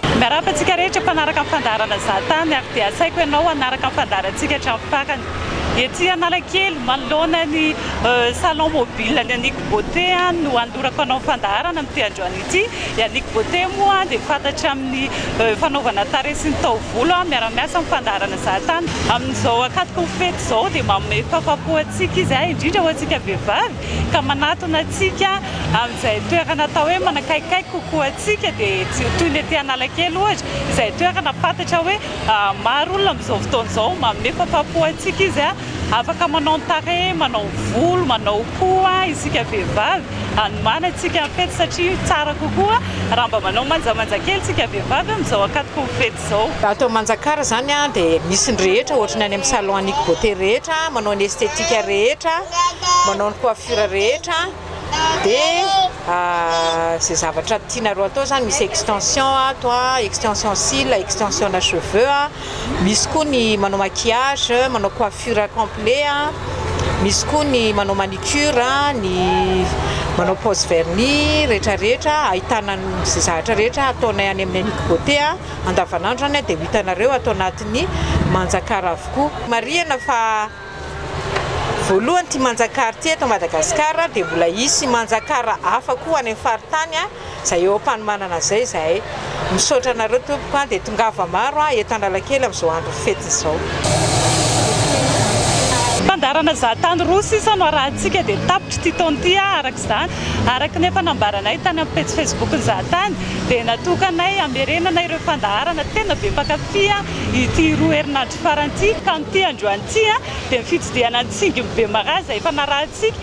Miarahaba antsika rehetra mpanaraka ny fandaharana Za Tany ary dia asaiko ianao hanaraka ny fandaharantsika hatramin'ny farany. Ety Analakely, manoloana ny Salon Mobile ny Aniko Beauté no hanolorako anao ny fandaharana amin'ity androany ity. I Aniko Beauté moa dia fantatra amin'ny fanaovana tarehy sy ny taovolo. Miara-miasa amin'ny fandaharana Za Tany. Amin'izao ankatoky ny fety izao dia manome fahafahampo antsika izy, indrindra ho antsika vehivavy. ka manatona antsika amin'izay toerana atao hoe manakaikikaiky kokoa antsika dia toy ny aty Analakely ohatra izay toerana fantatra hoe maro olona amin'izao fotoana izao manome fafampo antsika izy a! afaka manao ny tarehy, manao volo, manao hoho isika vehivavy hanomana antsika ny fety satria tsara kokoa raha mba manao manjamanja kely isika vehivavy amin'izao ankatoky ny fety izao. izao. Ato Manjakara izany dia misy ny rehetra, ohatra ny any amin'ny salon Annick Beauté rehetra, manao ny esthétique rehetra, manao ny coiffure rehetra, dia izay zavatra tianareo atao izany, misy extension ato, extension cils, extension na cheveux, misy koa ny manao maquillage, manao coiffure complet, misy koa ny manao manicure. cure, ny manao pose vernis rehetra rehetra ahitana izay zavatra rehetra ataonay any amin'ny Annick Beauté andavanandro any dia ho hitanareo ato anatin'ny Manjakara avokoa. Marihana fa voalohany ity Manjakara ity eto Madagasikara dia mbola hisy Manjakara hafa koa any amin'ny faritany. Izay eo am-panomanana izay izahay. Misaotra anareo tompoko an, dia tongava maro an eto Analakely amin'izao andron'ny fety izao. Fandaharana zahantany roa sisa no arahintsika dia tapitra ity taona ity an, araka izany. Araka ny efa nambaranay tany amin'ny pejy Facebook ny zahantany dia natokanay hamerenana ireo fandaharana tena be mpankafy an ity roa herinandro farany ity ka amin'ity androany ity an dia ny fitsidihana ny tsingim-be maraza efa narahintsika.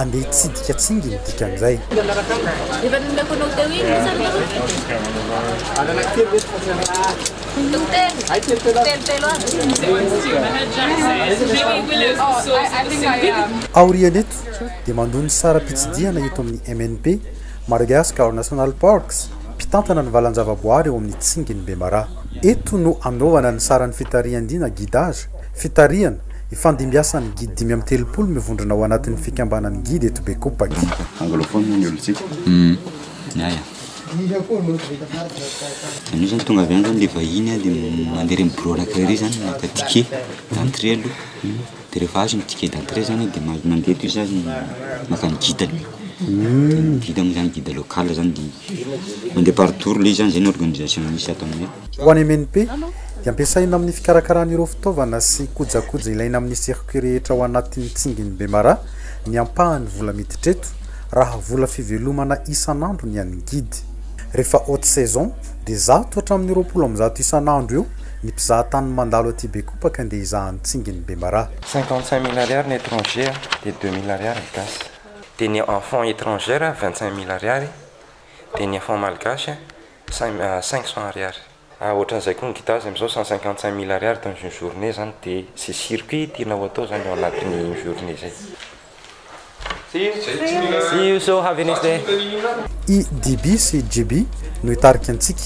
Andeha hitsidika tsingy ny dikan'izay. Efa nomeko anao teo iny ny samihafa. Anana kely ve tsy fotsiny? Telo telo. Ay telo telo. Telo telo avy. Aorian'eto dia mandoa ny saram-pitsidihana eto amin'ny MNP, Madagascar National Parks, mpitantana ny valan-javaboary ao amin'ny tsingin'i Bemaraha. Eto no anaovana ny saran'ny fitarihan-dia na guidage. Fitarihana, Ifandimbiasan'ny Guide dimy amby telopolo mivondrona ao anatin'ny fikambanan'ny Guide eto Bekopaky. Anglophone ny olona tsika ny ahy an! Anio zany tonga avy any zany le vahiny an, de mandeha reny bureau anankiray reny zany maka ticket d'entrée aloha, de rehefa azo ny ticket d'entrée zany de mandeha atoy zany maka ny guide-ny, de ny guide moa zany guide local zany de mandeha par tour le izy zany, zay ny organisation misy ato aminay. Ho any MNP dia ampiasaina amin'ny fikarakarana ireo fitaovana sy kojakoja ilaina amin'ny circuit rehetra ao anatin'ny tsingin'i Bemaraha ny ampahany vola miditra eto raha vola fivelomana isan'andro ny an'ny guide. Rehefa haute saison dia zato hatramin'ny roapolo amby zato isan'andro eo ny mpizahatany mandalo aty Bekopaka ndeha hizaha ny tsingin'i Bemaraha. Cinquante cinq mille ariary ny étranger dia deux mille ariary ny gasy. Dia ny enfants étrangers vingt cinq mille ariary dia ny enfants malgaches Cinq cents ariary. Ah ohatran'izay koa ny guitare zay amzao cent cinquante cinq mille ariary dans une journée zany de ze circuit tianao atao zany ao anatin'ny une journée zay. See you so have a nice day. I DB sy JB no hitarika antsika.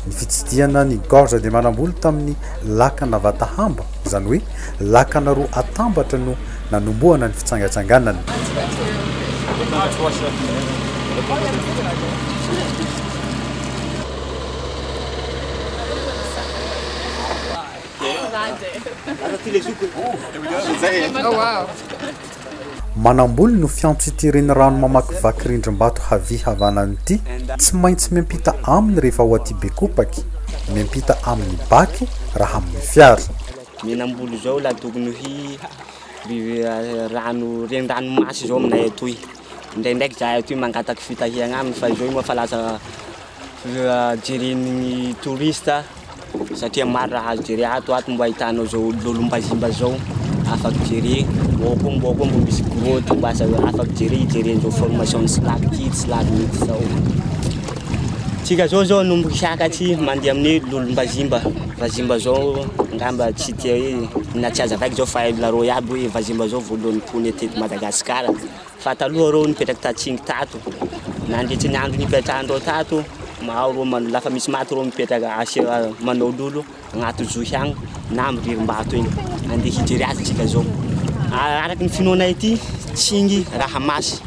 Ny fitsidihana ny Gorge de Manamboly tamin'ny lakana Vatahamba, izany hoe lakana roa atambatra no nanombohana ny fitsangatsanganana. Manamboly no fiantso ity renirano mamakivaky rindrim-bato havia havanana ity. Tsy maintsy miampita aminy rehefa ao Atibekopaky, miampita amin'ny baky raha amin'ny fiara. Menambolo izao la tokony ho rano reniranomasy izao aminay atoy. Indraindraiky izahay atoy mangataka fitahiana aminy fa izao moa efa lasa jeren'ny touriste satria maro raha azo jerena ato. Ato mbo ahitanao izao lolombazimba izao afaky jerena. Ao koa mbo ao koa mbo misy grotte mbo azo afaky jerena hijeren'izao formation ny silako ity sy silako iny izao. Tsika izao izao no mihiaka aty mandeha amin'ny lolombazimba. Vazimba zao ngamba tsy tia hoe na tsy aza vaika zao fa hain'olona reo iaby hoe vazimba zao voalohany mpoina eto eto Madagascar fa taloha reo nipetraka tatsingy tato nandritry ny andro nipetrahandreo tato mahaho reo man- lafa misy maty reo mipetraka asia manao lolo agnaty zohy agny na amy ririmbato egny andeha hijery azy tsika zao araky ny finoanay aty tsingy raha masy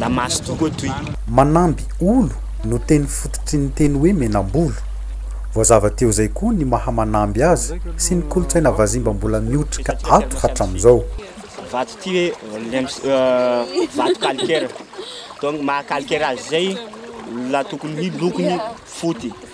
la maso tokoa toy. Manamby olo no teny fototry ny teny hoe menambolo. Voazava teo zay koa ny maha manamby azy sy ny kolotsaina vazimba mbola miotrika ato hatramizao. Vato ty hoe lems euh vato calcaire donc maha calcaire azy zay la tokony hoe lokony foty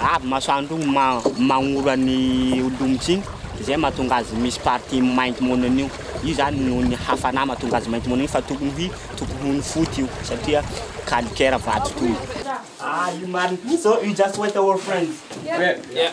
Avy masoandro iny magnora ny holomotry iny izay mahatonga azy misy partie mainty monina io. Io zany noho ny hafana mahatonga azy mainty monina io fa tokony ho tokony ho ny foty io satria calcaire vato toy. Ah io marigny, so you just wait our friends. Yeah.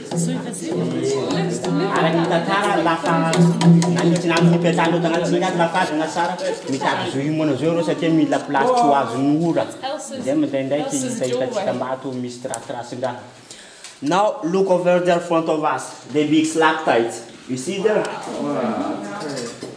Araka ny tantara, lasa nanintona amin'ny mpiantsahanontana ny tsindry azy fa azona tsara. Mitady zo himoana zao ireo satria mila place tsy ho azon'ny ora. Izay mandraindraiky hita hitantsika maty misy tirathirasin-draha. Now look over there front of us, the big stalactite. You see there?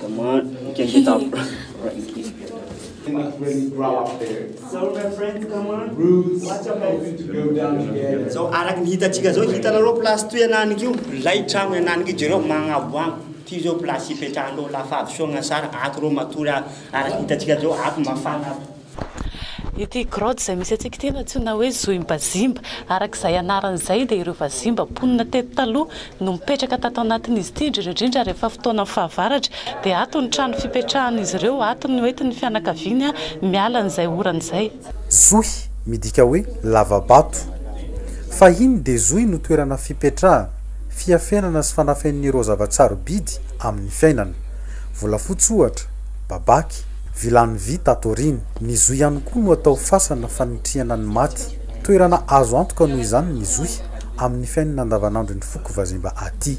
Come on, you can get up Franky. Zao araky ny hitantsika zao, hitanareo place toy anany io, milay tragno anany io, jereo magnaboagno, ty zao place ipetrahanareo, la fahadisoagna sara, ato reo matory araky ny hitantsika zao, ato mafana ato. Ity grotte izay misy antsika ity no antsoina hoe Zohimbazimba. Araka izay anarany izay dia ireo vazimba mponina teto taloha no mipetraka tato anatin'izy ity, indrindra indrindra rehefa fotoanan'ny fahavaratra dia ato no trano fipetrahan'izy ireo, ato no entin'ny fianakaviany miala an'izay orana izay. Zohy midika hoe lava-bato. Fahiny dia zohy no toerana fipetrahana, fiafenana sy fanafenana ireo zava-tsarobidy amin'ny fiainana. Volafotsy ohatra, babaky, Vilany vy tato aoriana. Ny zohy ihany koa no atao fasana fanitrihana ny maty. Toerana azo antoka noho izany ny zohy amin'ny fiainana andavanandron'ny foko vazimba aty.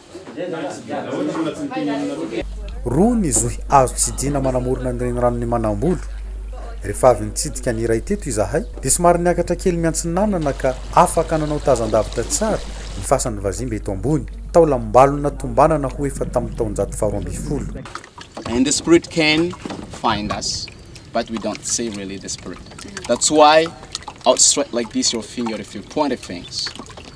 Roa ny zohy azo tsidihina manamorona ny reniranon'i Manambolo. Rehefa avy nitsidika ny iray teto izahay dia somary niakatra kely miantsinanana ka afaka nanao tazan-davitra tsara ny fasan'ny vazimba eto ambony, taolam-balona tombanana ho efa tamin'ny taonjato faharoa ambin'ny folo.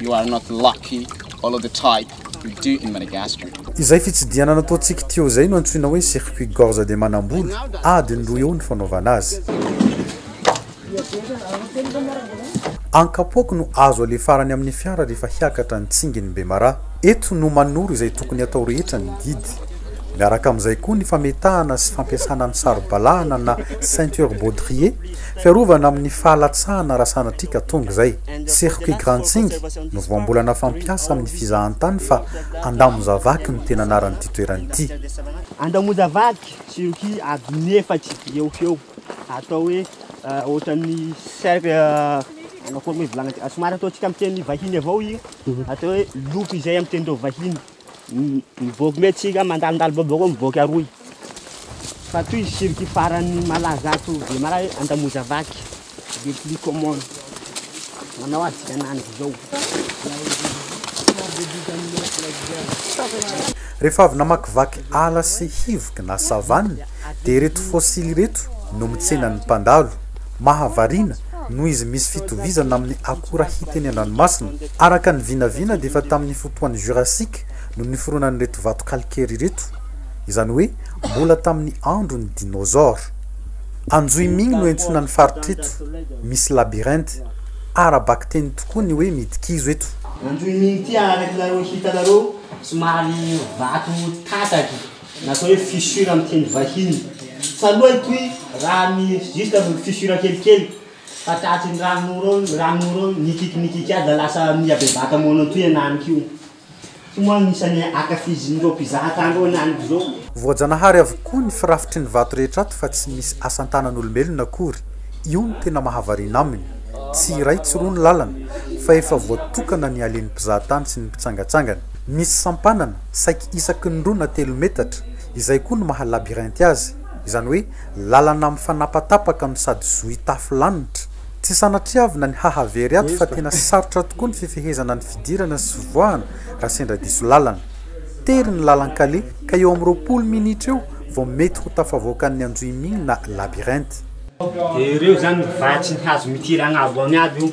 You are not lucky, all of the type we do in Madagascar. Izay fitsidihana nataontsika Teo izay no antsoina hoe circuit gorge de manambola, adiny roa eo ny fanaovana azy. Ankapoako no azo alefarany amin'ny fiara rehefa hiakatra ny tsingin'i Bemaraha. Eto no manoro izay tokony hatao rehetra ny guide. Miaraka amin'izay koa ny fametahana sy fampiasana ny saro-balahana na ceinture baudrier, fiarovana amin'ny fahalatsahana raha sanatria ka tonga izay. Circuit Grantsing no voambolana fampiasa amin'ny fizahantany fa Andamozavaky no tena anaran'ity toerana ity. Andamozavaky, circuit adiny efatra eo ho eo, atao hoe ohatran'ny cercle, manao forme vilagny, somary ataontsika amin'ny teny vahiny avao io, atao hoe loop izay amin'ny tenin-dRaovahiny. Mivoaka mety tsika mandalondalo boboko mivoaka aroy. Fa toy izy circuit farany malaza ato Bemaraha hoe Andamoza Vaky le plus common. Manao azy tsika ananjy izao. Rehefa avy namakivaky ala sy hivoky na savane, Dia ireto fossile ireto no mitsenan'ny mpandalo. Mahavariana, noho izy misy fitovizana amin'ny akora hita eny an-dranomasina. Araka ny vinavina dia efa tamin'ny fotoan'ny Jurassique no niforonan'ireto vato calcaire ireto, izany hoe mbola tamin'ny andron'ny dinosaures. Anjohiming no iantsoana ny faritra eto, misy labyrinthe. Ara-bakiteny tokoa ny hoe midikizo eto. Anjohiming ity araky nareo hitanareo somary vato tataka. Ny atao hoe fissure amin'ny teny vahiny. Taloha itoy raha ny juste amin'ny fissure kelikely fa tratry ny ranon'ora ao, ny ranon'ora ao nikiky nikiky aza lasa nihabebaka moana toy an any ko. Io moa no isan'ny ankafizin'ireo mpizaha tany ireo an any izao. Voajanahary avokoa ny firafitry ny vato rehetra ato fa tsy misy asan-tanan'olombelona akory, io no tena mahavariana aminy. Tsy iray tsy roa ny lalana fa efa voatokana ny halen'ny mpizahatany sy ny mpitsangatsangana. Misy sampanana, Saiky isaky ny roa na telo metatra, izay koa no maha labyrinth azy, izany hoe lalana mifanapatapaka no sady zohy tafo lanitra. Tsy sanatriavina ny hahavery ato fa tena sarotra tokoa ny fifehezana ny fidirana sy fivoahana raha sendra diso lalana. Tery ny lalan-kaleha ka eo amin'ny roapolo minitra eo vao mety ho tafavoakan'ny anjohimiana labyrinth. Dia ireo izany vatsy ny hazo mitiry agnabo any aby io.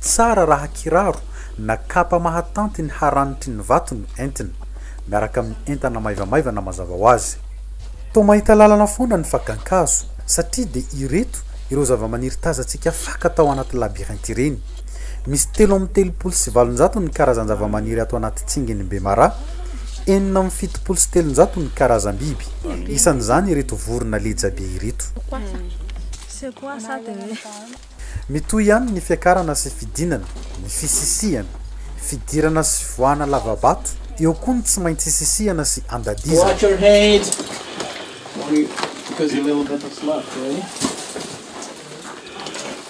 Tsara raha kiraro na kapa mahatanty ny haranitry ny vato no entina, miaraka amin'ny entana maivamaivana mazava ho azy. Toa mahita lalana foana ny fakan-kazo, satria dia ireto ireo zava-maniry tazantsika faka tao anaty labyrinthe ireny. Misy telo amby telopolo sy valonjato ny karazan-javamaniry ato anaty tsingin'i Bemara, enina amby fitopolo sy telonjato ny karazam-biby, isan'izany ireto vorona leja be ireto. Mitohy ihany ny fiakarana sy fidinana, ny fisisihana, fidirana sy fivoahana lava-bato, eo koa ny tsy maintsy sisihana sy andadizana.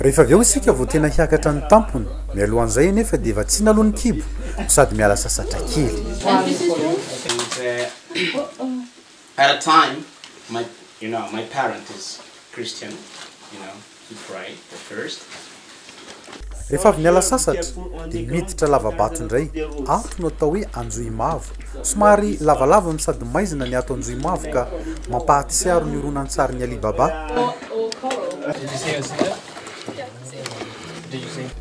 Rehefa avy eo isika vao tena hiakatra ny tampony, mialohan'izay anefa dia vatsiana aloha ny kibo no sady miala sasatra kely. Rehefa avy niala sasatra dia miditra lava-bato indray ato no atao hoe Anjohimavo. Somary lavalava no sady maizina ny ato Anjohimavo ka mampahatsiaro ny horonantsarin'i Ali Baba.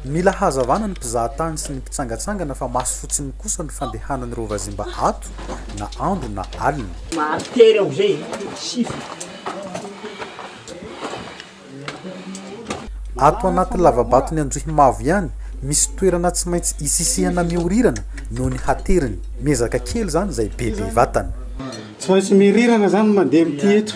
Mila hazavana ny mpizahatany sy ny mpitsangatsangana fa maso fotsiny kosa ny fandehanan'ireo vazimba ato na andro na alina. Ato anaty lavabaton'i Androhimavo ihany, misy toerana tsy maintsy isisihana miorirana noho ny hateriny. Miezaka kely izany izay bebe vatana. Tsy maintsy mirirana izany ny mandeha amin'ity eto.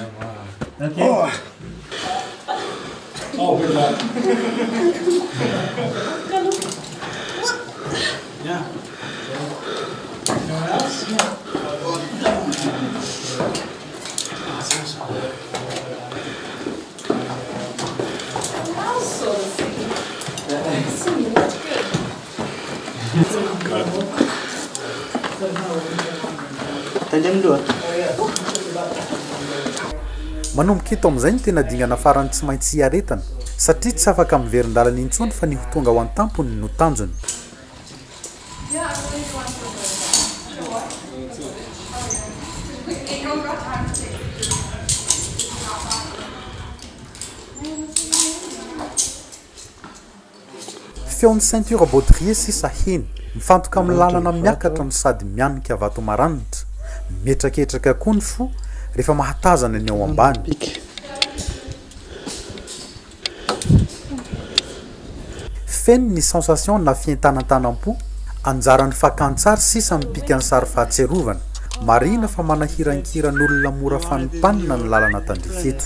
Manomboka eto amin'izay ny tena dingana farany tsy maintsy hiaretana satria tsy afaka miverin-dalana intsony fa ny ho tonga ao an-tampony no tanjony. Feon'ny ceinture baudrier sisa heny, mifantoka amin'ny lalana miakatra no sady mianika vato maranitra. Mihetraketraka koa ny fo rehefa mahatazana ny ao ambany. Feno ny sensation na fientanatanam-po, anjaran'ny fakantsary sisa mipika ny sary fahatsiarovana. Marihina fa manahirankiran'olona mora fanimpanina ny lalana tandrify eto.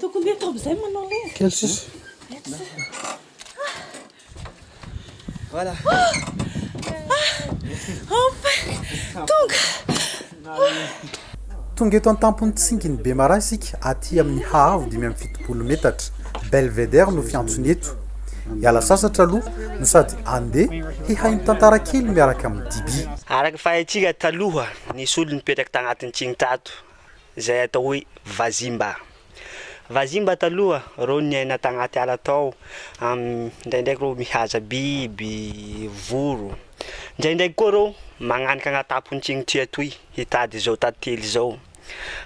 Tokony eto amin'izay manao le. Kely sisa. Voilà. Enfin, tonga. Tonga eto an-tampon'ny tsingin'i Bemaraha isika aty amin'ny haavo dimy amby fitopolo metatra. Belvedere no fiantsony eto. Hiala sasatra aloha no sady andeha hihaino tantara kely miaraka amin'ny Diby. Araka ny fahaitsika taloha, nisy olona nipetraka tagnatin'ny tsiny tato. izay atao hoe Vazimba. Vazimba taloha reo niaina tagnaty ala tao, ndraindraiky reo mihaza biby, voro. Ndraindraiky koa reo magnanika agnataponts'igny ty atoy hitady zao tantely zao.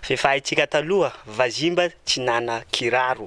Fe fahaitsika taloha, Vazimba tsy nana kiraro.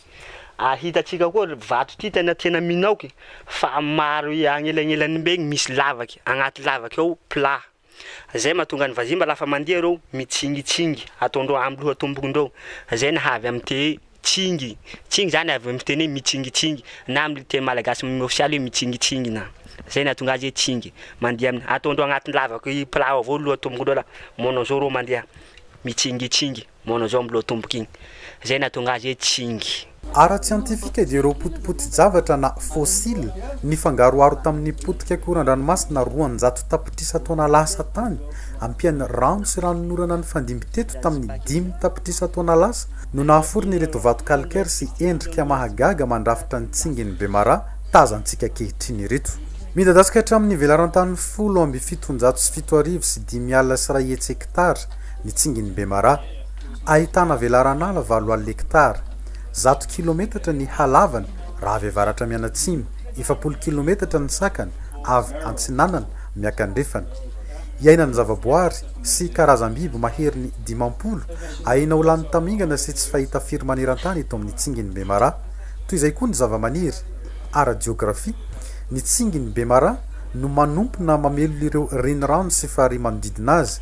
ary hitantsika koa vato ty tena tena minoky fa maro agnelagnelany be misy lavaky agnaty lavaky ao plat zay mahatonga ny vazimba lafa mandeha reo mitsingitsigngy ataondreo amy loha tombokondreo zay naha avy amy te tsingy tsingy zany avy amy teny hoe mitsingitsigngy na amy teny malagasy m ofisialy hoe mitsingitsigngy na zay nahatonga azy hoe tsingy mandeha aminy ataondreo agnaty lavaky plat ao avao loha tombokondreo la manao zao reo mandeha mitsingitsigngy Monozombo Lotomboka iny, izay nahatonga azy hoe Tsingy. Ara-tsiantifika dia ireo potipoti-javatra na fossiles nifangaroharo tamin'ny potika koran-dranomasina roanjato tapitrisa taona lasa tany ampian'ny rano sy ranon'orana nifandimby teto tamin'ny dimy tapitrisa taona lasa no nahaforona ireto vato calcaire sy endrika mahagaga mandrafitra ny tsingin'i Bemara tazantsika ankehitriny ireto. Midadasika hatramin'ny velaran-tany folo amby fitonjato sy fito arivo sy dimy alina sy iray hetsy hektara, ny tsingin'i Bemara, ahitana velaran'ala valo alina hektara, zato kilometatra ny halavany raha avy avaratra mianatsimo, efapolo kilometatra ny sakany avy antsinanana miakandrefana. Iainan'ny zavaboary sy karazam-biby maherin'ny dimampolo aina ho lany tamingana sy tsy fahita firy maneran-tany eto amin'ny tsingin'i Bemara. Toy izay koa ny zavamaniry. Ara-jeografia, ny tsingin'i Bemara no manompona mamelona ireo renirano sy farihy manodidina azy.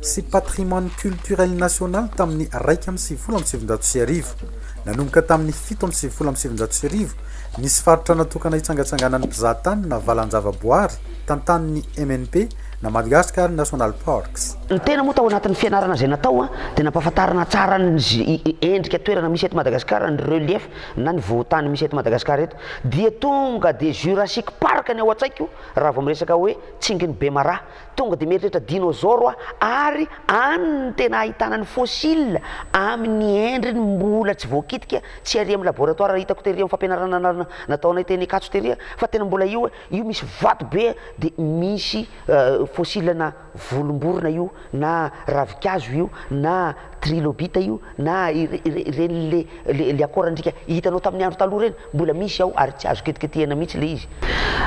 sy Patrimoine Culturel National tamin'ny iraika amby sivifolo amby sivinjato sy arivo. Nanomboka tamin'ny fito amby sivifolo amby sivinjato sy arivo, nisy faritra natokana hitsangatsanganan'ny mpizahatany na valan-javaboary tantanin'ny MNP na Madagascar National Parks. Ny tena moa tao anatin'ny fianarana izay natao dia nampahafantarana tsara ny endrika toerana misy eto Madagascar, ny relief na ny vohon-tany misy eto Madagascar eto. Dia tonga dia Jurassic Park ny ao an-tsaiko raha vao miresaka hoe Tsingin'i Bemaraha. Tonga dia mieritreritra dinôzôro aho ary any no tena ahitana ny fôsila amin'ny endriny mbola tsy voakitika, tsy ary amin'ny labôratoara hitako tery amin'ny fampianarana nataonay teny Ankatso tery fa tena mbola io, io misy vato be dia misy fôsilana volom-borona io na ravinkazo io na trilobita io, Na ireny le le akoran-driaka hitanao tamin'ny andro taloha ireny, mbola misy ao ary tsy azo ketiketehina mihitsy le izy.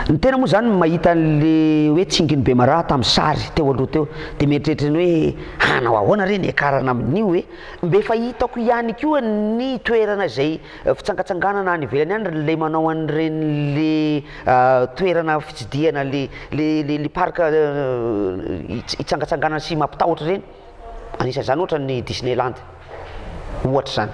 Ny tena moa izany mahita an'le hoe tsingin'i Bemaraha tamin'ny sary teo aloha teo dia mieritreritra ny hoe hanao ahoana re ny hiakarana amin'io e? Mbe efa hitako ihany koa ny toerana izay fitsangatsanganana any ivelany any le manao an'ireny le toerana fitsidihana le le le parc hitsangatsanganana sy mampitahotra ireny. Anisan'izany ohatra ny Disneyland ohatra izany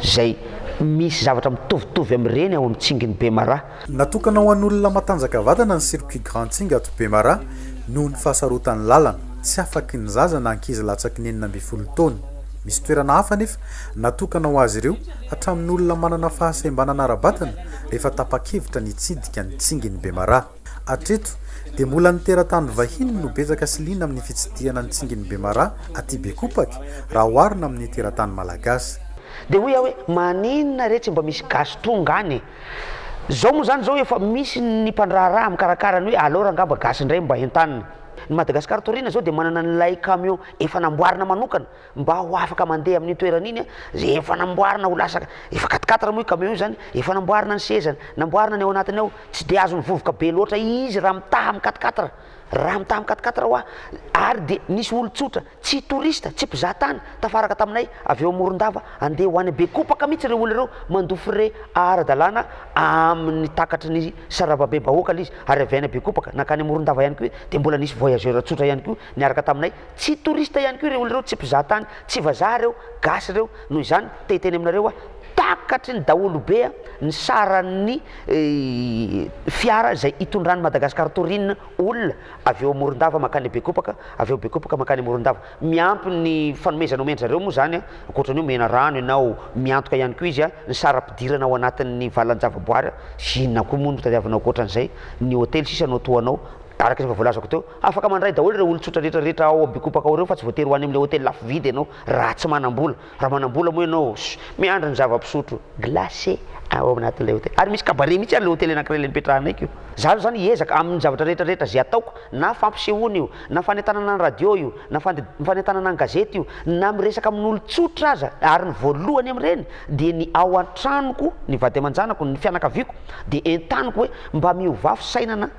izay misy zavatra mitovitovy amin'ireny ao amin'ny Tsingin'i Bemaraha. Natokana ho an'olona matanjaka vatana ny Circuit Grand Tsing ato Bemaraha noho ny fahasarotan'ny lalana, tsy afaky ny zaza na ankizy latsaky ny enina ambin'ny folo taona. Misy toerana hafa anefa natokana ho azy ireo hatramin'ny olona manana fahasembanana ara-batana rehefa tapa-kevitra ny hitsidika ny Tsingin'i Bemaraha. Hatreto dia mbola ny teratany vahiny no betsaka sy liana amin'ny fitsidihana ny tsingin'i Bemara aty Bekopaky raha oharina amin'ny teratany malagasy. Dia hoy aho hoe maninona re tsy mba misy gasy tonga any e? Zao moa zany zao efa misy ny mpandraharaha mikarakara ny hoe alors angamba gasy indray mba entanina. Ny Madagascar Taoriana zao dia manana an'ilay camion efa namboarina manokana mba ho afaka mandeha amin'iny toerana iny izay efa namboarina ho lasa efa quatre quatre moa io camion io zany efa namboarina ny sezany namboarina ny ao anatiny ao tsy dia azony vovoka be loatra izy raha mitaha amin'ny quatre quatre raha mitaha amin'ny quatre quatre hoa ary dia nisy olon-tsotra tsy touriste tsy mpizaha tany tafaraka taminay avy eo Morondava andeha ho any Bekopaka mihitsy ireo olona ireo mandoa frais ara-dalàna amin'ny takatry ny saravabe bahoaka ilay izy ary avy any Bekopaka nankany Morondava ihany koa dia mbola nisy voyageur tsotra ihany koa niaraka taminay Tsy touriste ihany koa ireo olona ireo, tsy mpizaha tany, tsy vazaha ireo, gasy ireo, noho izany te hiteny aminareo aho, takatry ny daholo be ny saran'ny fiara izay itondran'i Madagascar Tourisme olona avy eo Morondava mankany Bekopaka, avy eo Bekopaka mankany Morondava. Miampy ny fanomezana omen-dry zareo moa izany, ankoatra ny hoe omena rano ianao, miantoka ihany koa izy ny saram-pidirana ao anatin'ny valan-javaboary, inona koa moa no tadiavinao ankoatra an'izay, ny hotely sisa no atohanao, araka ny efa voalazako teo. Afaka mandray daholo ireo olon-tsotra rehetra rehetra ao Abikopaka ao ireo fa tsy voatery ho any amin'ilay hotely lafo vidy ianao raha tsy manam-bola. Raha manam-bola moa ianao, miandry ny zava-pisotro, glace, ao anatin'ilay hotely. Ary misy cabaret mihitsy ary ilay hotely anankiray ilay nipetrahanay. Izaho izany hiezaka amin'ny zavatra rehetra rehetra izay ataoko, na fampisehoana io, na fanentanana ny radio io, na fanentanana ny gazety io, na miresaka amin'olon-tsotra aza, ary ny voalohany amin'ireny dia ny ao an-tranoko, ny vady aman-janako, ny fianakaviako dia entaniko hoe mba miovafy saina na.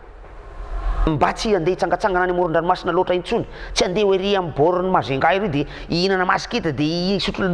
Mba tsy handeha hitsangatsangana any amoron-dranomasina loatra intsony, tsy handeha ho ery amin'ny bord ny Majunga ery dia hihinana masikita dia hisotro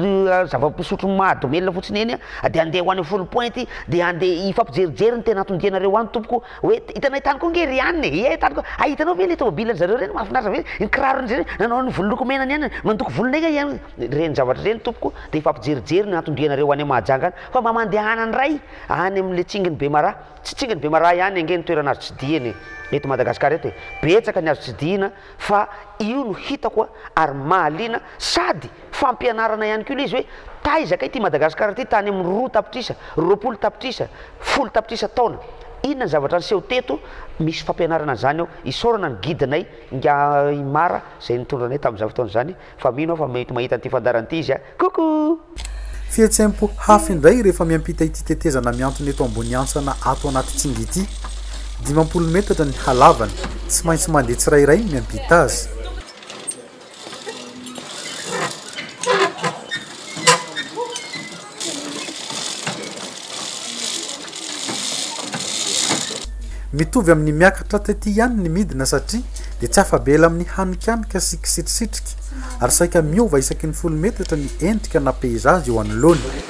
zava-pisotro mahadomelina fotsiny eny dia handeha ho any amin'ny Foul Point dia handeha hifampijerijery ny tena hatondianareo any tompoko hoe hitanay tany koa nge ry any e, ie tany koa, ay hitanao ve le tomobile ry zareo reny mahafinaritra ve, ny kiraro ry zareo nanao ny volo loko mena ny any, mandoko volonay nga ianao, ireny zavatra ireny tompoko dia hifampijerijery ny hatondianareo any Mahajanga any fa mba mandehana ndray any amin'le tsingin'i Bemaraha. Tsy tsinginy Bemaraha ihany ange ny toerana azo tsidihina e! Eto Madagascar eto e! Betsaka ny azo tsidihina fa io no hitako a! Ary mahaliana sady fampianarana ihany koa le izy hoe taiza kay ty Madagascar ity tany amin'ny roa tapitrisa, roapolo tapitrisa, folo tapitrisa taona? Inona ny zavatra niseho teto? Misy fampianarana an'izany ao. Isaorana ny guide-nay Ingahy Mara izay nitondra anay tamin'izany fotoana izany fa mino aho fa mety mahita an'ity fandaharana ity izy a! Coucou! Fihetseham-po hafa indray rehefa miampita ity tetezana mihantona eto Amboniantsana ato anaty Tsingy ity. Dimampolo metatra ny halavany. Tsy maintsy mandeha tsirairay ny miampita azy. Mitovy amin'ny miakatra taty ihany ny midina satria dia tsy afa-bela amin'ny hanikanika sy kisitrisitrika ary saika miova isaky ny folo metatra ny endrika na peizazy eo anoloany.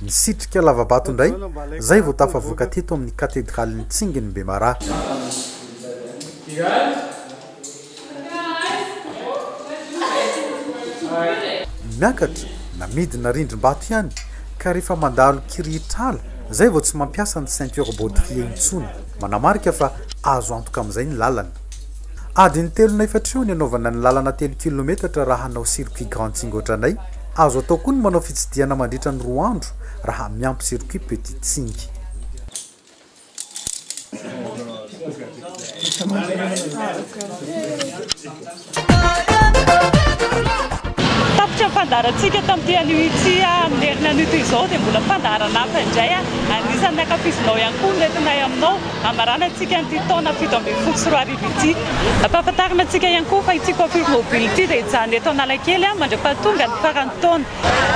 Nisitrika lava-bato indray izay vao tafavoaka teto amin'ny katedralin'i Tsingin'i Bemaraha. Miakatra na midina rindrim-bato ihany ka rehefa mandalo kirihitr'ala zay vao tsy mampiasa ny ceinture baudrier intsony, manamarika fa azo antoka amin'izay ny lalana. Adiny telo na efatra eo ny anaovana ny lalana telo kilometatra raha hanao circuit grand tsing ohatranay, azo atao koa ny manao fitsidihana mandritra ny roa andro raha miampy circuit petit tsing. Tapitra ny fandaharantsika tamin'ity anio ity amin'ny herin'anio izao dia mbola fandaharana hafa indray anisan'ny ankafizinao ihany koa no entinay aminao hamarana antsika an'ity taona fito ambin'ny folo sy roa arivo ity. Ampahafantarina antsika ihany koa fa ity coiffure mobile ity dia hijanona eto Analakely mandra-pahatonga ny faran'ny taona.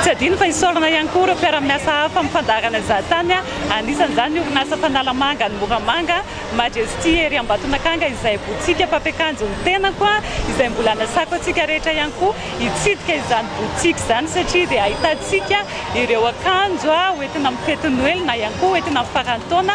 Tsy adino fa isaorana ihany koa ireo mpiara-miasa hafa amin'ny fandaharana Izahatany, anisan'izany ny orinasa Fanalamanga any Moramanga, Majesty ery Ambatonakanga izay botsika mpampiakanjo ny tenako, izay mbola anasako antsika rehetra ihany koa hitsidika izany botsika izany satria dia ahitantsika ireo akanjo hoentina amin'ny fety Noely na ihany koa hoentina amin'ny faran'ny taona.